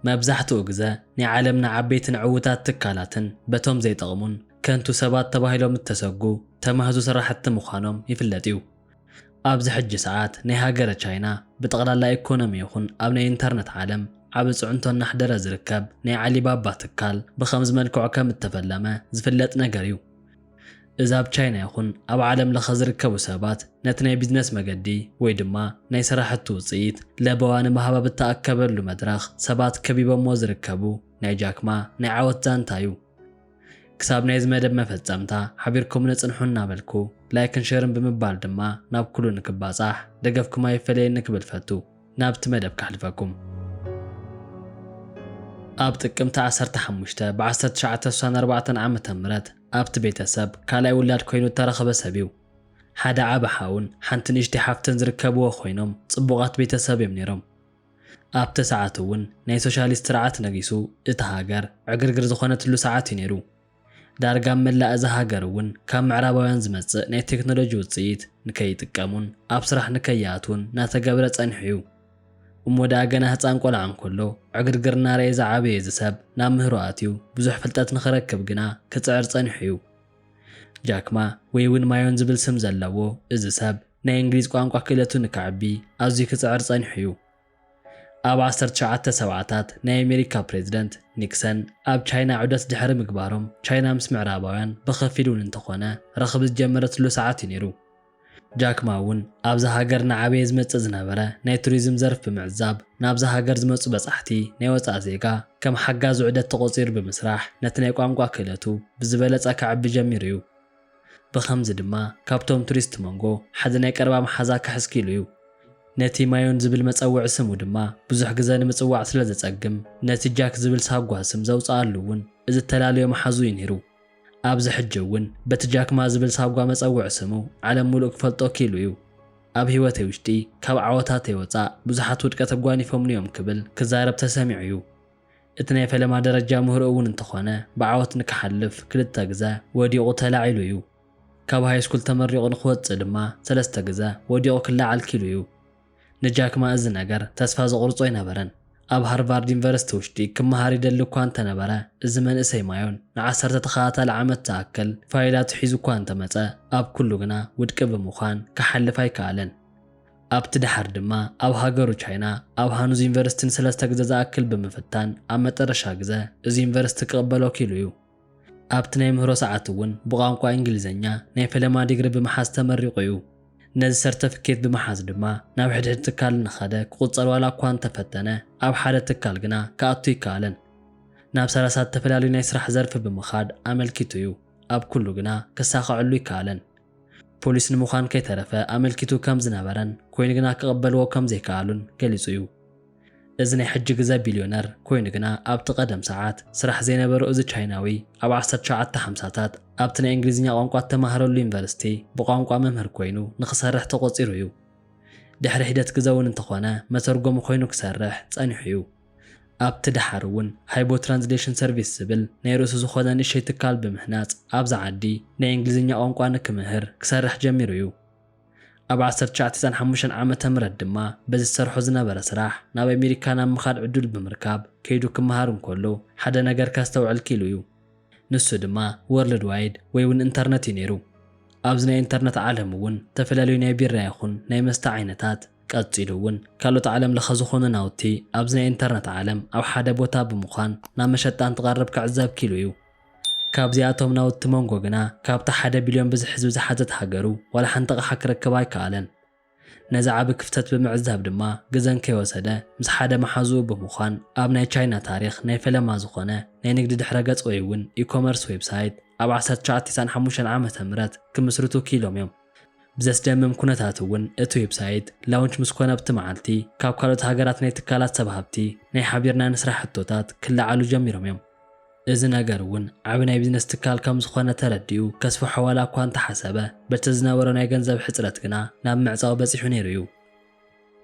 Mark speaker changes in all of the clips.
Speaker 1: መብዛሕትኡ ግዘ ናይ ዓለምና ዓበይትን ዕውታት ትካላትን በቶም ዘይጠቕሙን ከንቱ ሰባት ተባሂሎም እተሰጉ ተማህዙ ስራሕቲ ምዃኖም ይፍለጥ እዩ። ኣብዚ ሕጂ ሰዓት ናይ ሃገረ ቻይና ብጠቕላላ ኢኮኖሚ ይኹን ኣብ ናይ ኢንተርነት ዓለም ዓቢ ፅዕንቶ እናሕደረ ዝርከብ ናይ ዓሊባባ ትካል ብኸምዚ መልክዑ ከም እተፈለመ ዝፍለጥ ነገር እዩ። እዚ ኣብ ቻይና ይኹን ኣብ ዓለም ለኸ ዝርከቡ ሰባት ነቲ ናይ ቢዝነስ መገዲ ወይ ድማ ናይ ሰራሕቲ ውፅኢት ለበዋ ንምሃብ ኣብ እተኣከበሉ መድረኽ ሰባት ከቢቦምዎ ዝርከቡ ናይ ጃክ ማ ናይ ዓወት ዛንታ እዩ። ክሳብ ናይዚ መደብ መፈፀምታ ሓቢርኩምኒ ፅንሑ እናበልኩ ላይክን ሼርን ብምባል ድማ ናብ ኩሉ ንክባፃሕ ደገፍኩም ኣይፈለየኒ ክብል ፈቱ። ናብቲ መደብ ከሕልፈኩም። ኣብ ጥቅምቲ ዓሰርተ ሓሙሽተ ብ ዓሰርተ ትሽዓተ ስሳን ኣርባዕተን ዓመተ ምህረት ኣብቲ ቤተሰብ ካልኣይ ውላድ ኮይኑ እተረኽበ ሰብ እዩ። ሓደ ዓቢ ሓውን ሓንቲ ንእሽተይ ሓፍትን ዝርከብዎ ኮይኖም ጽቡቓት ቤተሰብ እዮም ነይሮም። ኣብቲ ሰዓት እውን ናይ ሶሻሊስት ስርዓት ነጊሱ እታ ሃገር ዕግርግር ዝኾነትሉ ሰዓት እዩ ነይሩ። ዳርጋ ኣብ መላእ እዛ ሃገር እውን ካብ ምዕራባውያን ዝመጽእ ናይ ቴክኖሎጂ ውጽኢት ንከይጥቀሙን ኣብ ስራሕ ንከይኣትዉን እናተገብረ ጸኒሑ እዩ። እሞ ደኣ ገና ህጻን ቆልዓ እንከሎ ዕግርግር እናርኣየ ዝዓበየ እዚ ሰብ ናብ ምህሮ ኣትዩ ብዙሕ ፍልጠት ንኽረክብ ግና ክጽዕር ጸኒሑ እዩ። ጃክ ማ ወይ እውን ማዮን ዝብል ስም ዘለዎ እዚ ሰብ ናይ እንግሊዝ ቋንቋ ክእለቱ ንከዕቢ ኣዝዩ ክጽዕር ጸኒሑ እዩ። ኣብ ዓሰርተ ትሽዓተ ሰብዓታት ናይ ኣሜሪካ ፕሬዝደንት ኒክሰን ኣብ ቻይና ዑደት ድሕሪ ምግባሮም ቻይና ምስ ምዕራባውያን ብኸፊል ውን እንተኾነ ረኽቢ ዝጀመረትሉ ሰዓት ዩ ነይሩ። ጃክ ማ ውን ኣብዛ ሃገር እናዓበየ ዝመፅእ ዝነበረ ናይ ቱሪዝም ዘርፍ ብምዕዛብ ናብዛ ሃገር ዝመፁ በፃሕቲ ናይ ወፃኢ ዜጋ ከም ሓጋዚ ዑደት ተቖፂሩ ብምስራሕ ነቲ ናይ ቋንቋ ክእለቱ ብዝበለፀ ከዕቢ ጀሚሩ ዩ። ብኸምዚ ድማ ካብቶም ቱሪስት መንጎ ሓዚ ናይ ቀረባ መሓዛ ክሕዝ ክኢሉ እዩ። ነቲ ማዮን ዝብል መጸውዒ ስሙ ድማ ብዙሕ ግዘ ንምጽዋዕ ስለ ዘጸግም ነቲ ጃክ ዝብል ሳጓ ስም ዘውጸኣሉ እውን እዚ እተላለዮ መሓዙ እዩ ነይሩ። ኣብዚ ሕጂ እውን በቲ ጃክማ ዝብል ሳጓ መጸውዒ ስሙ ዓለም ሙሉእ ክፈልጦ ክኢሉ እዩ። ኣብ ህይወተይ ውሽጢ ካብ ዓወታተይ ወጻእ ብዙሓት ውድቀት ኣጓኒፎምኒ እዮም ክብል ክዛረብ ተሰሚዑ እዩ። እቲ ናይ ፈለማ ደረጃ ምህሮ እውን እንተኾነ ብዓወት ንክሓልፍ ክልተ ግዘ ወዲቑ ተላዒሉ እዩ። ካብ ሃይስኩል ተመሪቑ ንክወፅእ ድማ ሰለስተ ግዘ ወዲቑ ክለዓል ኪሉ እዩ። ንጃክማ እዚ ነገር ተስፋ ዘቑርፆ ኣይነበረን። ኣብ ሃርቫርድ ዩኒቨርሲቲ ውሽጢ ክመሃር ይደሊ እኳ እንተነበረ እዚ መንእሰይ ማዮን ንዓሰርተ ተኸታታሊ ዓመት ዝኣክል ፋይላቱ ሒዙ እኳ እንተመፀ ኣብ ኩሉ ግና ውድቂ ብምዃን ክሓልፍ ኣይከኣለን። ኣብቲ ደሓር ድማ ኣብ ሃገሩ ቻይና ኣብ ሃኑዝ ዩኒቨርሲቲ ንሰለስተ ግዘ ዝኣክል ብምፍታን ኣብ መጠረሻ ግዘ እዚ ዩኒቨርሲቲ ክቕበሎ ኪኢሉ እዩ። ኣብቲ ናይ ምህሮ ሰዓት እውን ብቋንቋ እንግሊዘኛ ናይ ፈለማ ዲግሪ ብምሓዝ ተመሪቑ እዩ። ነዚ ሰርተፍኬት ብምሓዝ ድማ ናብ ሕድሕድ ትካል እናኸደ ክቑፀር ዋላ እኳ እንተፈተነ ኣብ ሓደ ትካል ግና ክኣቱ ኣይከኣለን። ናብ ሰላሳ እተፈላለዩ ናይ ስራሕ ዘርፊ ብምኻድ ኣመልኪቱ እዩ። ኣብ ኩሉ ግና ከሳኸዐሉ ኣይከኣለን። ፖሊስ ንምዃን ከይተረፈ ኣመልኪቱ ከም ዝነበረን ኮይኑ ግና ክቕበልዎ ከም ዘይከኣሉን ገሊጹ እዩ። እዚ ናይ ሕጂ ግዘ ቢልዮነር ኮይኑ ግና ኣብቲ ቀደም ሰዓት ስራሕ ዘይነበሮ እዚ ቻይናዊ ኣብ ዓሰርተ ትሽዓተ ሓምሳታት ኣብቲ ናይ እንግሊዝኛ ቋንቋ እተማህረሉ ዩኒቨርሲቲ ብቋንቋ መምህር ኮይኑ ንክሰርሕ ተቖጺሩ እዩ። ድሕሪ ሒደት ግዘ እውን እንተኾነ መተርጎሚ ኮይኑ ክሰርሕ ጸኒሑ እዩ። ኣብቲ ደሓር እውን ሃይቦ ትራንስሌሽን ሰርቪስ ዝብል ናይ ርእሱ ዝኾነ ንእሽተይ ትካል ብምህናጽ ኣብዛ ዓዲ ናይ እንግሊዝኛ ቋንቋ ንክምህር ክሰርሕ ጀሚሩ እዩ። ኣብ ዓሰርተ ትሽዓተ ዛን ሓሙሽተን ዓመተ ምህረት ድማ በዚ ዝሰርሖ ዝነበረ ስራሕ ናብ ኣሜሪካ ናብ ምኻድ ዕዱል ብምርካብ ከይዱ ክመሃር እንከሎ ሓደ ነገር ከስተውዕል ኪኢሉ እዩ። ንሱ ድማ ወርልድ ዋይድ ወይ እውን እንተርነት እዩ ነይሩ። ኣብዚ ናይ እንተርነት ዓለም እውን ተፈላለዩ ናይ ቢራ ይኹን ናይ መስተ ዓይነታት፣ ቀጺሉ እውን ካልኦት ዓለም ለኸ ዝኾኑ ናውቲ ኣብዚ ናይ ኢንተርነት ዓለም ኣብ ሓደ ቦታ ብምዃን ናብ መሸጣ እንትቐርብ ክዕዘብ ክኢሉ እዩ። ካብዚኣቶም ናውቲ ሞንጎ ግና ካብታ ሓደ ቢልዮን ብዝሒ ህዝቢ ዝሓዘት ሃገሩ ዋላ ሓንቲ ኣቕሓ ክረክብ ኣይከኣለን። ነዚ ዓቢ ክፍተት ብምዕዛብ ድማ ግዘን ከይወሰደ ምስ ሓደ መሓዝኡ ብምዃን ኣብ ናይ ቻይና ታሪኽ ናይ ፈለማ ዝኾነ ናይ ንግዲ ድሕረ ገጽ ወይ እውን ኢኮመርስ ዌብሳይት ኣብ ዓሰርተ ትሽዓተ ቴስዓን ሓሙሽተን ዓመተ ምህረት ክምስርቱ ክኢሎም እዮም። ብዘስደምም ኩነታት እውን እቲ ዌብሳይት ላውንች ምስ ኮነ ኣብቲ መዓልቲ ካብ ካልኦት ሃገራት ናይ ትካላት ሰብ ሃብቲ ናይ ሓቢርና ንስራሕ ሕቶታት ክለዓሉ ጀሚሮም እዮም። እዚ ነገር እውን ዓቢ ናይ ቢዝነስ ትካል ከም ዝኾነ ተረዲኡ ከስፍሖ ዋላ እኳ እንተሓሰበ በቲ ዝነበሮ ናይ ገንዘብ ሕጽረት ግና ናብ ምዕጻው በጺሑ ነይሩ እዩ።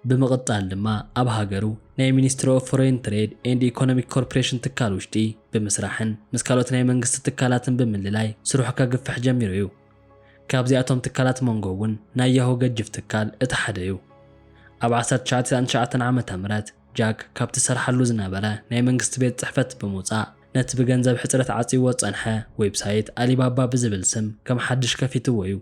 Speaker 1: ብምቕጻል ድማ ኣብ ሃገሩ ናይ ሚኒስትሪ ኦፍ ፎረይን ትሬድ ኤንድ ኢኮኖሚክ ኮርፕሬሽን ትካል ውሽጢ ብምስራሕን ምስ ካልኦት ናይ መንግስቲ ትካላትን ብምልላይ ስርሑ ከግፍሕ ጀሚሩ እዩ። ካብዚኣቶም ትካላት ሞንጎ እውን ናይ ያሁ ገጅፍ ትካል እቲ ሓደ እዩ። ኣብ ዓሰርተ ትሽዓተ ሰላሳን ትሽዓተን ዓመተ ምህረት ጃክ ካብቲ ዝሰርሓሉ ዝነበረ ናይ መንግስቲ ቤት ጽሕፈት ብምውጻእ ነቲ ብገንዘብ ሕጽረት ዓጽይዎ ዝጸንሐ ዌብሳይት ኣሊባባ ብዝብል ስም ከም ሓድሽ ከፊትዎ እዩ።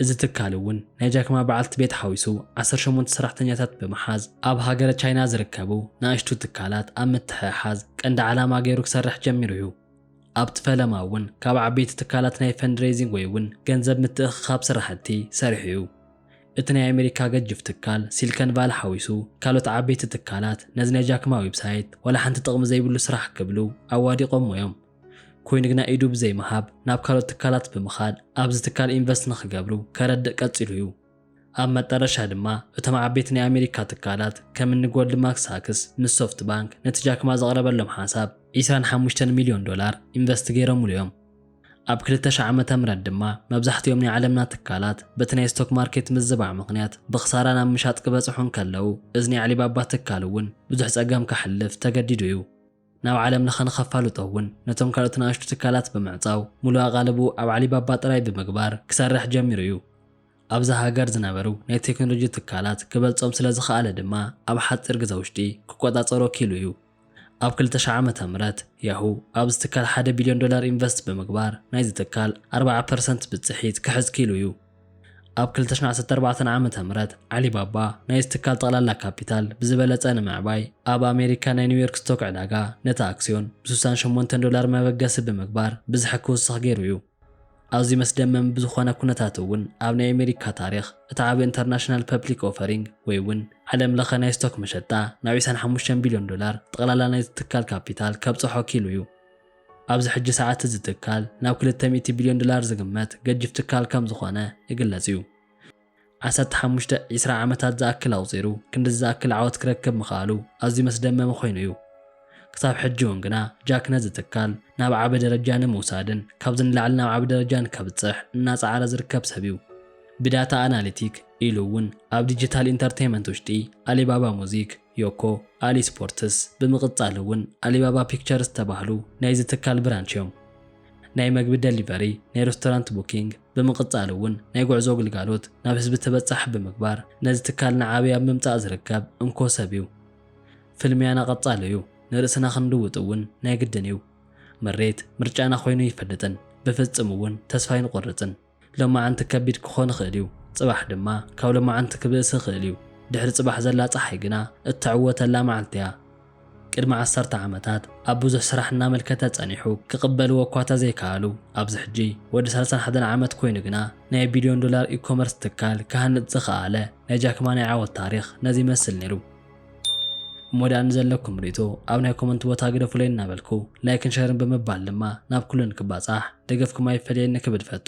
Speaker 1: እዚ ትካል እውን ናይ ጃክማ በዓልቲ ቤት ሓዊሱ ዓሰርተ ሸሞንተ ሰራሕተኛታት ብምሓዝ ኣብ ሃገረ ቻይና ዝርከቡ ንኣሽቱ ትካላት ኣብ ምትሕሓዝ ቀንዲ ዓላማ ገይሩ ክሰርሕ ጀሚሩ እዩ። ኣብቲ ፈለማ እውን ካብ ዓበይቲ ትካላት ናይ ፈንድሬዚንግ ወይ እውን ገንዘብ ምትእኽኻብ ስራሕቲ ሰሪሑ እዩ። እቲ ናይ ኣሜሪካ ገጅፍ ትካል ሲልከን ቫሊ ሓዊሱ ካልኦት ዓበይቲ ትካላት ነዚ ናይ ጃክማ ዌብሳይት ዋላ ሓንቲ ጥቕሚ ዘይብሉ ስራሕ ክብሉ ኣዋዲቖሞ እዮም። ኮይኑ ግና ኢዱ ብዘይምሃብ ናብ ካልኦት ትካላት ብምኻድ ኣብዚ ትካል ኢንቨስት ንኽገብሩ ከረድእ ቀፂሉ እዩ። ኣብ መጠረሻ ድማ እቶም ዓበይቲ ናይ ኣሜሪካ ትካላት ከም እኒ ጎልድማክ ሳክስ ምስ ሶፍት ባንክ ነቲ ጃክማ ዘቕረበሎም ሓሳብ ዒስራን ሓሙሽተን ሚልዮን ዶላር ኢንቨስት ገይሮምሉ እዮም። ኣብ ክልተ ሽሕ ዓመተ ምህረት ድማ መብዛሕቲኦም ናይ ዓለምና ትካላት በቲ ናይ ስቶክ ማርኬት ምዝባዕ ምኽንያት ብኽሳራ ናብ ምሻጥ ክበፅሑ እንከለዉ እዝኒ ኣዕሊባባ ትካል እውን ብዙሕ ፀገም ከሕልፍ ተገዲዱ እዩ። ናብ ዓለም ለኸ ንኸፋልጦ እውን ነቶም ካልኦት ንኣሽቱ ትካላት ብምዕፃው ሙሉእ ኣቓልብኡ ኣብ ዓሊባባ ጥራይ ብምግባር ክሰርሕ ጀሚሩ እዩ። ኣብዛ ሃገር ዝነበሩ ናይ ቴክኖሎጂ ትካላት ክበልፆም ስለዝኸኣለ ድማ ኣብ ሓፂር ግዘ ውሽጢ ክቆፃፀሮ ኪኢሉ እዩ። ኣብ ክልተ ሽሕ ዓመተ ምህረት ያሁ ኣብዚ ትካል ሓደ ቢልዮን ዶላር ኢንቨስት ብምግባር ናይዚ ትካል ኣርብዓ ፐርሰንት ብፅሒት ክሕዝ ኪኢሉ እዩ። ኣብ ክልተ ሽሕ ዓሰርተ ኣርባዕተ ዓመተ ምህረት ዓሊባባ ናይዚ ትካል ጠቕላላ ካፒታል ብዝበለጸ ንምዕባይ ኣብ ኣሜሪካ ናይ ኒውዮርክ ስቶክ ዕዳጋ ነቲ ኣክስዮን ብስሳን ሸሞንተን ዶላር መበገሲ ብምግባር ብዝሒ ክውስኽ ገይሩ እዩ። ኣዝዩ መስደመሚ ብዝኾነ ኩነታት እውን ኣብ ናይ ኣሜሪካ ታሪኽ እቲ ዓቢ እንተርናሽናል ፐፕሊክ ኦፈሪንግ ወይ እውን ዓለም ለኸ ናይ ስቶክ መሸጣ ናብ ዒስራን ሓሙሽተን ቢልዮን ዶላር ጠቕላላ ናይዚ ትካል ካፒታል ከብጽሖ ክኢሉ እዩ። ኣብዚ ሕጂ ሰዓት እዚ ትካል ናብ ክልተ ሚእቲ ቢልዮን ዶላር ዝግመት ገጂፍ ትካል ከም ዝኾነ ይግለጽ እዩ። ዓሰርተ ሓሙሽተ፣ ዕስራ ዓመታት ዝኣክል ኣቑጺሩ ክንድዚ ዝኣክል ዓወት ክረክብ ምኽኣሉ ኣዝዩ መስደመሚ ኮይኑ እዩ። ክሳብ ሕጂ እውን ግና ጃክ ነዚ ትካል ናብ ዓቢ ደረጃ ንምውሳድን ካብዚ ንላዕሊ ናብ ዓቢ ደረጃ ንከብጽሕ እናጸዓረ ዝርከብ ሰብ እዩ። ብዳታ ኣናሊቲክ ኢሉ እውን ኣብ ዲጂታል ኢንተርተይመንት ውሽጢ ኣሊባባ ሙዚክ፣ ዮኮ ኣሊ ስፖርትስ ብምቕፃል እውን ኣሊባባ ፒክቸርስ ዝተባህሉ ናይዚ ትካል ብራንች እዮም። ናይ መግቢ ደሊቨሪ፣ ናይ ረስቶራንት ቡኪንግ ብምቕፃል እውን ናይ ጉዕዞ ግልጋሎት ናብ ህዝቢ ተበፃሒ ብምግባር ነዚ ትካል ንዓብይ ኣብ ምምፃእ ዝርከብ እንኮ ሰብ እዩ። ፍልሚያና ቐፃሊ እዩ፣ ንርእስና ክንልውጥ እውን ናይ ግድን እዩ። ምሬት ምርጫና ኮይኑ ኣይፈልጥን፣ ብፍፅም እውን ተስፋ ኣይንቖርፅን። ሎማዓንቲ ከቢድ ክኾን ይኽእል እዩ፣ ጽባሕ ድማ ካብ ሎማዓንቲ ክብእስ ይኽእል እዩ። ድሕሪ ጽባሕ ዘላ ጸሓይ ግና እትዕወተላ መዓልቲ እያ። ቅድሚ ዓሰርተ ዓመታት ኣብ ብዙሕ ስራሕ እናመልከተ ጸኒሑ ክቕበልዎ እኳ ተዘይከኣሉ፣ ኣብዚ ሕጂ ወዲ ሳልሳን ሓደን ዓመት ኮይኑ ግና ናይ ቢልዮን ዶላር ኢ-ኮመርስ ትካል ክሃንጽ ዝኸኣለ ናይ ጃክ ማ ናይ ዓወት ታሪኽ ነዚ ይመስል ነይሩ። እሞ ደኣ ንዘለኩም ርእቶ ኣብ ናይ ኮመንት ቦታ ግደፉለይ እናበልኩ ላይክን ሸርን ብምባል ድማ ናብ ኩሉ ንክባጻሕ ደገፍኩም ኣይፈለየኒ ክብል ፈቱ።